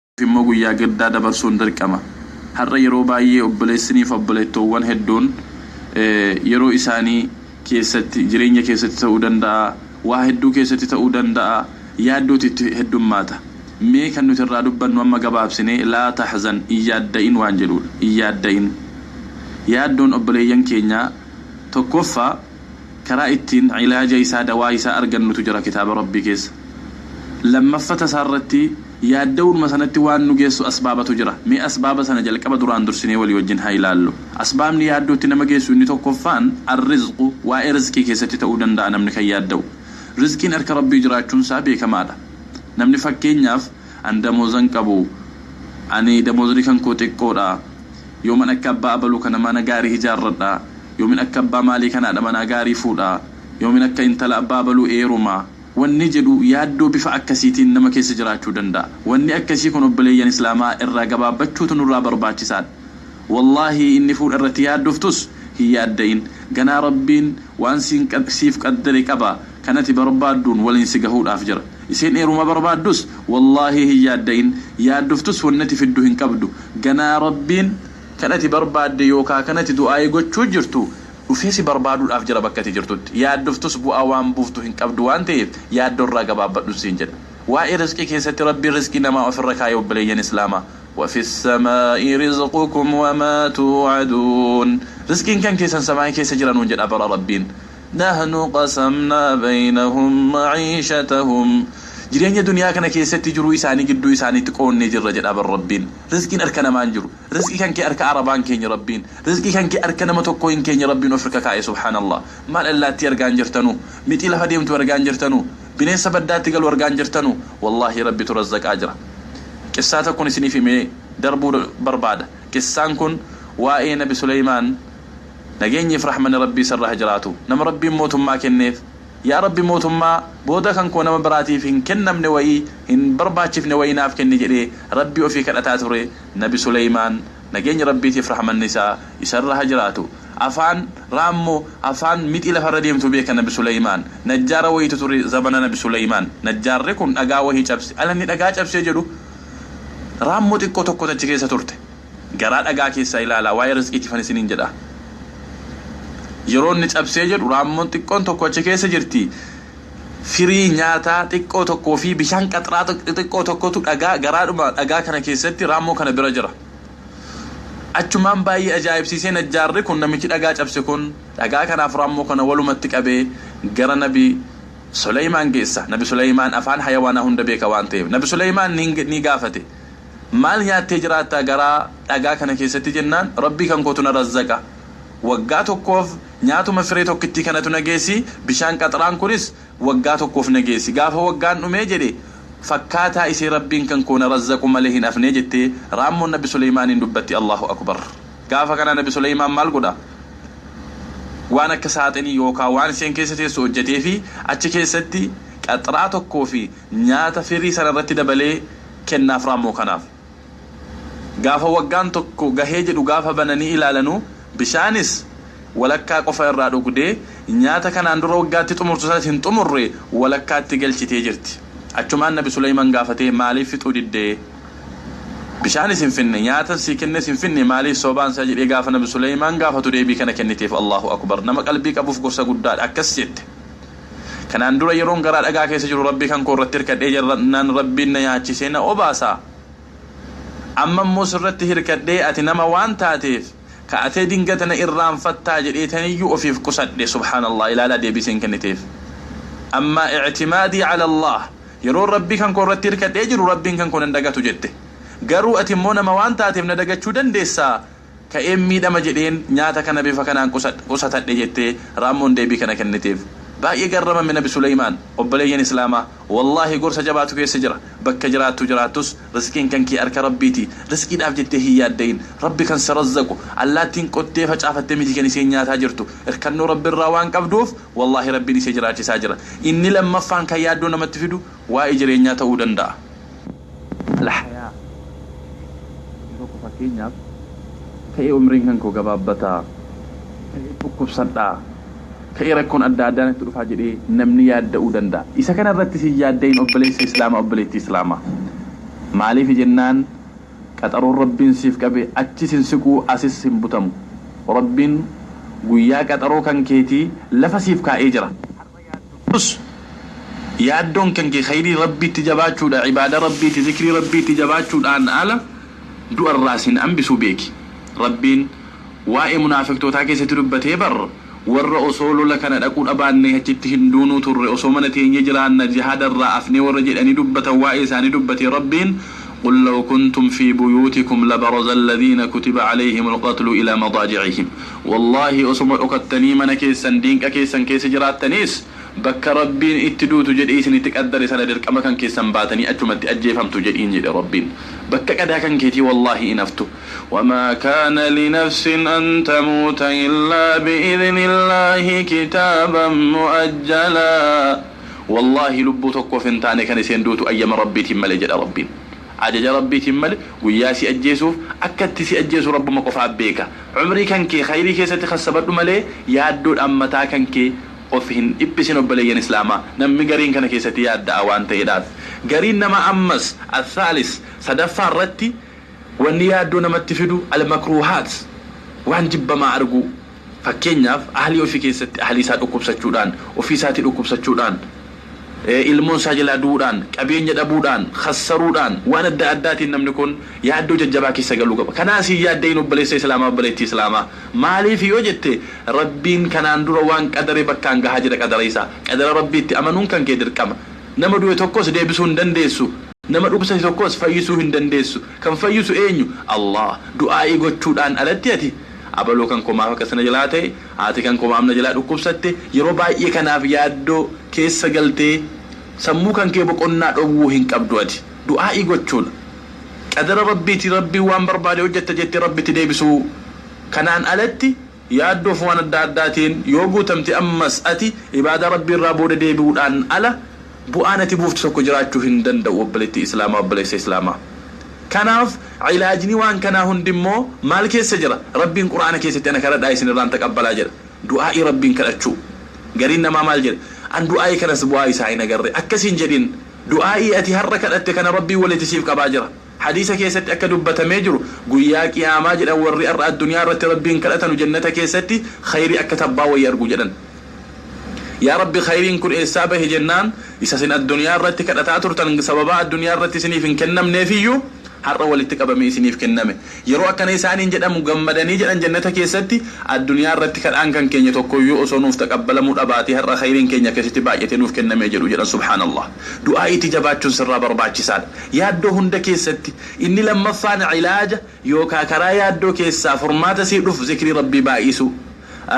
Kanaaf immoo guyyaa gaddaa dabarsuun dirqama. Har'a yeroo baay'ee obboleessini fi obboleettoowwan hedduun yeroo isaanii keessatti jireenya keessatti ta'uu danda'a, waa hedduu keessatti ta'uu danda'a yaaddooti itti heddummaata. Mee kan nuti irraa dubbannu amma gabaabsinee laa tahzan hin yaadda'in waan jedhuudha. Hin yaadda'in. Yaaddoon obboleeyyan keenyaa tokkoffaa. Karaa ittiin cilaaja isaa, dawaa isaa, argannutu jira kitaaba Rabbii keessa. Lammaffata isaa irratti yaadda'uunuma sanatti waan nu geessu asbaabatu jira. Mee asbaaba sana jalqaba duraan dursinee walii wajjin haa ilaallu. Asbaabni yaaddootti nama geessu inni tokkoffaan Ar-rizqu, waa'ee rizqii keessatti ta'uu danda'a namni kan yaadda'u. Rizqiin harka Rabbii jiraachuun isaa beekamaadha. Namni fakkeenyaaf, An damoozan qabu. Ani damoozni kan koo xiqqoodha. Yooman akka abbaa abaluu kana mana gaarii hijaarradha, yoomin akka abbaa maalii kanaadha manaa gaarii fuudha, yoomin akka intala abbaa abaluu eeruma, wanni jedhu yaaddoo bifa akkasiitiin nama keessa jiraachuu danda'a. Wanni akkasii kun obboleeyyan Islaamaa irraa gabaabbachuutu nurraa barbaachisaadha. Wallaahi inni fuudha irratti yaaddoftus hin yaadda'in. Ganaa Rabbiin waan siif qaddare qaba, kan ati barbaadduun waliin si gahuudhaaf jira. Isiin eeruma barbaaddus wallaahii hin yaadda'in yaaddoftus wannati fiddu hin qabdu ganaa rabbiin Kan ati barbaadde yookaa Kan ati du'aa'ii gochuu jirtu dhufee si barbaaduudhaaf jira bakka ati jirtutti yaaddoftus bu'aa waan buuftu hin qabdu waan ta'eef yaaddoo irraa gabaabbadhun siin jedha waa'ee rizqii keessatti rabbiin rizqii namaa ofirra kaa'e obboleeyyan islaamaa wafi ssamaa'i rizqukum wamaa tuu'aduun rizqiin kan keessan samaa'ii keessa jira nuun jedha bara rabbiin Nahnu qasamnaa baynahum ma'iishatahum Jireenya duniyaa kana keessatti jiruu isaanii gidduu isaaniitti qoonnee jirra jedhaa bar Rabbiin. Rizqiin harka namaa hin jiru. Rizqi kan kee harka Arabaa hin keenye Rabbiin. Rizqi kan kee harka nama tokkoo hin keenye Rabbiin of irka kaa'e subhaanallah. Maal allaattii argaa hin jirtanuu? Mixii lafa deemtu argaa hin jirtanuu? Bineensa baddaatti galu argaa hin jirtanuu? Wallaahii Rabbitu razzaqaa jira. Qissaa tokkon isiniif himee darbuu barbaada. Qissaan kun waa'ee Nabi Suleymaan Nageenyi fi rahmani rabbii isarra ha jiraatu nama rabbiin mootummaa kenneef yaa rabbi mootummaa booda kan koo nama biraatiif hin kennamne wayii hin barbaachifne wayii naaf kenni jedhee rabbii ofii kadhataa ture nabi suleymaan nageenyi rabbiitii fi rahmanni isaa isarra ha jiraatu afaan raammo afaan mixii lafarra deemtu beeka nabi suleymaan najjaara wayiitu ture zamana nabi suleymaan najjaarri kun dhagaa wayii cabse alanni dhagaa cabsee jedhu raammo xiqqoo tokkotu achi keessa turte Garaa dhagaa keessaa ilaalaa, waa'ee rizqiitifan isiniin jedha. Yeroo inni cabsee jedhu raammoon xiqqoon tokko achi keessa jirti. Firii nyaataa xiqqoo tokkoo fi bishaan qaxraa xixiqqoo tokkotu dhagaa garaadhuma dhagaa kana keessatti raammoo kana bira jira. Achumaan baay'ee ajaa'ibsiisee najjaarri kun namichi dhagaa cabse kun dhagaa kanaaf raammoo kana walumatti qabee gara nabi Suleeymaan geessa. Nabi Suleeymaan afaan hayawaanaa hunda beeka waan ta'eef. Nabi Suleeymaan ni gaafate. Maal nyaattee jiraattaa garaa dhagaa kana keessatti jennaan Rabbii kan kootu na razzaqa. Waggaa tokkoof nyaatuma firee tokkittii kanatu na geessi, bishaan qaxraan kunis waggaa tokkoof na geessi. Gaafa waggaan dhumee jedhe fakkaataa isee Rabbiin kan koo na razzaqu malee hin hafnee jettee raammoon Nabi Suleymaaniin dubbatti Allaahu Akubar. Gaafa kana Nabi Suleymaan maal godha? Waan akka saaxinii yookaa waan iseen keessa teessu hojjateefii achi keessatti qaxraa tokkoo fi Nyaata firii sana irratti dabalee kennaaf raammoo kanaaf. Gaafa waggaan tokko gahee jedhu gaafa bananii ilaalanu bishaanis walakkaa qofa irraa dhugdee nyaata kanaan dura waggaatti xumurtu sanas hin xumurre walakkaatti galchitee jirti. Achumaan nabi Suleyman gaafatee maaliif fixuu diddee? Bishaanis hin finne, nyaatan sii kennes hin finne maaliif sobaan sa jedhee gaafa nabi Suleyman gaafatu deebii kana kenniteef Allaahu Akubar. Nama qalbii qabuuf gorsa guddaadha. Akkas jette. Kanaan dura yeroon garaa dhagaa keessa jiru Rabbii kan koo irratti hirkadhee jannaan Rabbiin na yaachisee na obaasa. Amma immoo sirratti hirkadhee ati nama waan taateef ka'atee dingata na irraanfattaa jedheetaniyyuu ofiif qusadhe subhaanallah ilaalaa deebii isiin kenniteef. Ammaa i'timaadii ala Allaah yeroon Rabbii kan koo irratti hirkadhee jiru Rabbiin kan koo nan dagatu jette. Garuu ati immoo nama waan taateef na dagachuu dandeessaa ka'een miidhama jedheen nyaata kana bifa kanaan qusatadhe jette Raammoon deebii kana kenniteef. Baay'ee garramame Nabi Suleymaan. Obboleeyyan Islaamaa! Wallaahi gorsa jabaatu keessa jira. Bakka jiraattu jiraattus rizqiin kan kee harka Rabbiiti. Rizqiidhaaf jettee hin yaadda'iin. Rabbi kan si razzaqu. Allaattiin qottee facaafatte miti kan isheen nyaataa jirtu. Irkannoo Rabbirraa waan qabduuf wallaahi Rabbiin ishee jiraachisaa jira. Inni lammaffaan kan yaaddoo namatti fidu waa'ee jireenyaa ta'uu danda'a. Al-Hayaa, Jireenya, Yeroo koo fakkeenyaaf ta'ee umriin kan koo gabaabbata, ta'ee dhukkubsadha, ta'ee rakkoon adda addaa natti dhufaa jedhee namni yaadda'uu danda'a. Isa kana irrattis hin yaadda'in obboleessa Islaamaa, obboleettii Islaamaa. Maaliifi jennaan qaxaroon Rabbiin siif qabe achis hin siqu, asis hin butamu. Rabbiin guyyaa qaxaroo kan keetii lafa siif kaa'ee jira. yaaddotus yaaddoon kanke kheeyrii Rabbiitti jabaachuudha ibaada Rabbiitti zikrii Rabbiitti jabaachuudhaan ala du'a irraa sin ambisu beeki Rabbiin waa'ee munaafiqtootaa keessatti dubbatee bar warra osoo lola kana dhaquu dhabaannee achitti hin duunuu turre osoo mana teenyee jiraanna jihaada irraa afnee warra jedhanii dubbatan waa'ee isaanii dubbatee Rabbiin qul law kuntum fii buyuutikum labarazalladhiina kutiba alayhimul qatlu ilaa madaajicihim Wallaahi osoma dhokattanii mana keessan diinqa keessan keessa jiraattaniis bakka Rabbiin itti duutu jedhee isinitti qaddare sana dirqama kan keessan baatanii achumatti ajjeefamtu jedhiin jedhe Rabbiin bakka qadaa kan keetii wallaahi hin haftu wamaa kaana linafsin an tamuuta illaa bi'idhnillaahi kitaaban mu'ajjalaa wallaahi lubbuu tokkoof hin taane kan iseen duutu ayyama Rabbiitiin malee jedha Rabbiin. Ajaja Rabbiitiin malee guyyaa si ajjeesuuf akka itti si ajjeesu Rabbuma qofaa beeka. Umrii kan kee khayrii keessatti khassabadhu malee yaaddoodhaan mataa kan kee of hin dhiphisin obboleeyyan Islaamaa. Nammi gariin kana keessatti yaadda'aa waan ta'eedhaaf. Gariin namaa ammas, Al-Thaalis, sadaffaa irratti, wanni yaaddoo namatti fidu, Al-Makruuhaat, waan jibbamaa arguu. Fakkeenyaaf ahlii ofii keessatti ahlii isaa dhukkubsachuudhaan, ofii isaatii dhukkubsachuudhaan, ilmoon isaa jalaa du'uudhaan, qabeenya dhabuudhaan, khassaruudhaan, waan adda addaatiin namni kun yaaddoo jajjabaa keessa galuu qaba. Kanaas hin yaadda'iin obboleessa Islaamaa, obboleettii Islaamaa. Maaliif yoo jette, Rabbiin kanaan dura waan qadare bakkaan gahaa jira qadara isaa. Qadara Rabbiitti amanuun kan kee dirqama. Nama du'e tokkos deebisuu hin dandeessu. Nama dhukkubsate tokkos fayyisuu hin dandeessu. Kan fayyisu eenyu? Allaah. Du'aa'ii gochuudhaan alatti ati. Abaluu kan koo maaf akkas na jalaa ta'e, haati kan koo maaf na jalaa dhukkubsatte, yeroo baay'ee kanaaf yaaddoo keessa galtee sammuu kan kee boqonnaa dhowwuu hin qabdu ati. Du'aa'ii gochuun qadara Rabbiiti, Rabbiin waan barbaade hojjetta jettee Rabbitti deebisuu. Kanaan alatti yaaddoo fi waan adda addaatiin yoo guutamte ammas ati ibaadaa Rabbii irraa booda deebi'uudhaan ala Bu'aan ati buuftu tokko jiraachuu hin danda'u obboleettii Islaamaa, obboleessa Islaamaa. Kanaaf ilaajni waan kanaa hundi immoo maal keessa jira? Rabbiin Qur'aana keessatti ana kadhadhaa isin irraan taqabbalaa jedha. Du'aa'ii Rabbiin kadhachuu. Gariin namaa maal jedha? An du'aa'ii kanas bu'aa isaa hin agarre. Akkas hin jedhin. Du'aa'ii ati har'a kadhatte kana Rabbiin walitti siif qabaa jira. Hadiisa keessatti akka dubbatamee jiru guyyaa qiyaamaa jedhan warri ar'a addunyaa irratti Rabbiin kadhatanu jannata keessatti khayrii akka tabbaa wayii argu jedhan. Yaa Rabbi khayriin kun eessaa bahe jennaan isa isin addunyaa irratti kadhataa turtan sababaa addunyaa irratti isiniif hin kennamneef iyyuu har'a walitti qabamee isiniif kenname. Yeroo akkana isaaniin jedhamu gammadanii jedhan jannata keessatti addunyaa irratti kadhaan kan keenya tokko iyyuu osoo nuuf taqabbalamuu dhabaatee har'a khayriin keenya akkasitti baay'atee nuuf kennamee jedhu jedhan subhaanallah. Du'aa'iitti jabaachuun sirraa barbaachisaadha. Yaaddoo hunda keessatti inni lammaffaan cilaaja yookaa karaa yaaddoo keessaa furmaata sii dhufu zikrii Rabbii baay'isuu.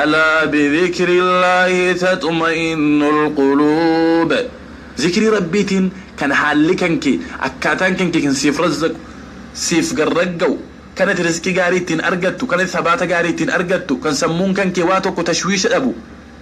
Alaa bizikirillaahi taxma'innul quluub. Zikrii Rabbiitiin kan haalli kan kee, akkaataan kan kee kan siif razzaqu, siif gad ragga'u, kan ati rizqii gaarii ittiin argattu, kan ati sabaata gaarii ittiin argattu, kan sammuun kan kee waa tokko tashwiisha dhabu,